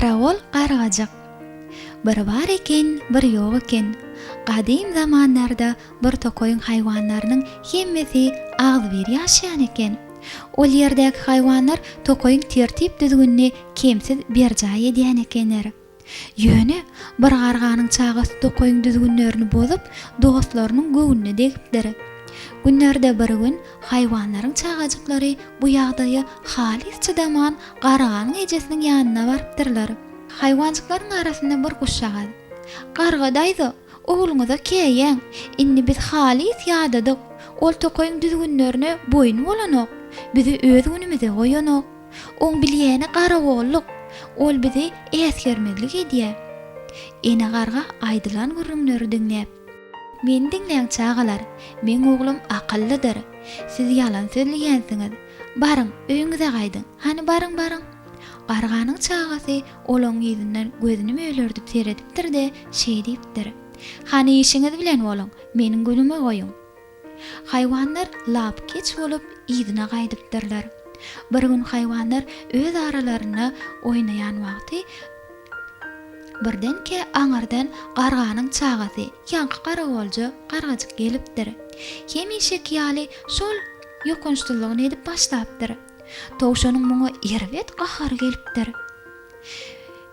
Garagol gargajyk. Bir bar eken, bir ýok eken. Gadym zamanlarda bir tokaýyň haýwanlarynyň hemmesi agzybir ýaşaýan eken. Ol ýerdäki haýwanlar tokaýyň tertip-düzgünini kemsiz berjaý edýän ekenler. Ýöne, bir garganyň çagasy tokaýyň düzgünlerini bozup, dostlarynyň göwnüne degipdir. Günlerde bir gün haýwanlaryň çagajyklary bu ýagdaýa halys çydaman garganyň ejesiniň ýanyna barypdyrlar. Haýwanjyklaryň arasynda bir guşjagaz, Garga daýza! Ogluňyza käýäň. Indi biz halys ýadadyk. Ol tokaýyň düzgünlerine boýun bolanok. Bizi öz günümize goýanok. Oň bilýäni garagolluk. Ol bizi äsgermezlik edýär. Ene garga aýdylan gürrüňleri diňläp. Meni diňläň, çagalar. Meň oglum akyllydyr. Siz ýalan sözleýänsiňiz. Baryň, öýüňize gaýdyň. Hany, baryň, baryň. Garganyň çagasy Ol oň ýüzünden gözüni mölerdip seredipdir-de, şeý diýipdir, Hany işiňiz bilen boluň, meniň günümi goýuň. Haýwanlar lap keç bolup, yzyna gaýdypdyrlar. Bir gün haýwanlar öz aralarynda oýnaýan wagty, birdenkä aňyrdan garganyň çagasy, ýaňky garagolja gargajyk gelipdir. Hemişeki ýaly şol ýokançsyzlygyny edip başlapdyr. Towşanyň muňa erbet gahary gelipdir.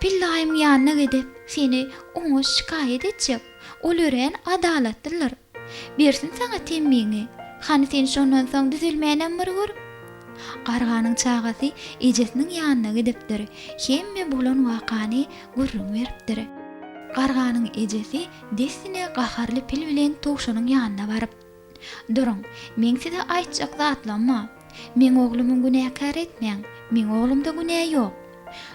Pillaýyň ýanyna gidip, seni oňa şikaýat etjek. Ol örän adalatlydyr. Bersin saňa temmiňi. Hany sen şondan soň düzelmänem bir gör. Garganyň çagasy ejesiniň ýanyna gidipdir. Hemme bolan wakany gürrüň beripdir. Garganyň ejesi dessine gaharly pil bilen towşanyň ýanyna baryp. Duruň, meň size aýtjak zatlam bar. Meň oglumyň günäkär etmäň, meň oglumda günä ýok.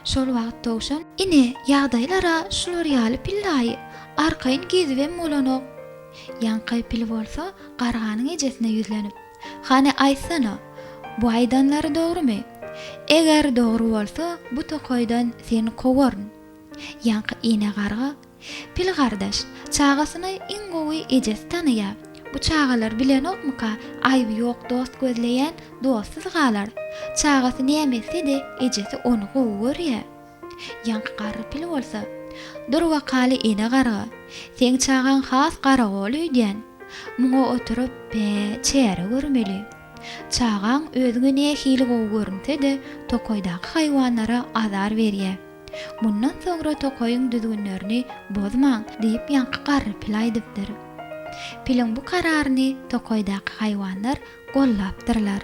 Şol wagt Towşan. Ine, ýagdaýlar-a şular ýaly pillaýy, arkaýyn gezibem bolanok. Ýaňky pil bolsa garganyň ejesine ýüzlenip. Hany aýtsana, bu aýdanlary dogrumy? Eger dogry bolsa, bu tokaýdan seni kowaryn. Ýaňky ine garga Pil gardaş, çagasyny iň gowy ejesi tanaýar. Bu çagalar bilenokmyka, aýby ýok dost gözleýän dostsuz galar. Çagasy näme etse-de, ejesi ony gowy görýär. Ýaňky garry pil bolsa, Dur wakaly ene garga, seň çagaň has garagol öýdýän. Muňa oturyp, bä, çäre görmeli. Çagaň özüňe nähili gowy görünse-de, tokaýdaky haýwanlara azar berýär. Mundan soňra tokaýyň düzgünlerini bozmaň diýip ýaňky garry pil aýdypdyr. Piliň bu kararyny tokaýdaky haýwanlar gollapdyrlar.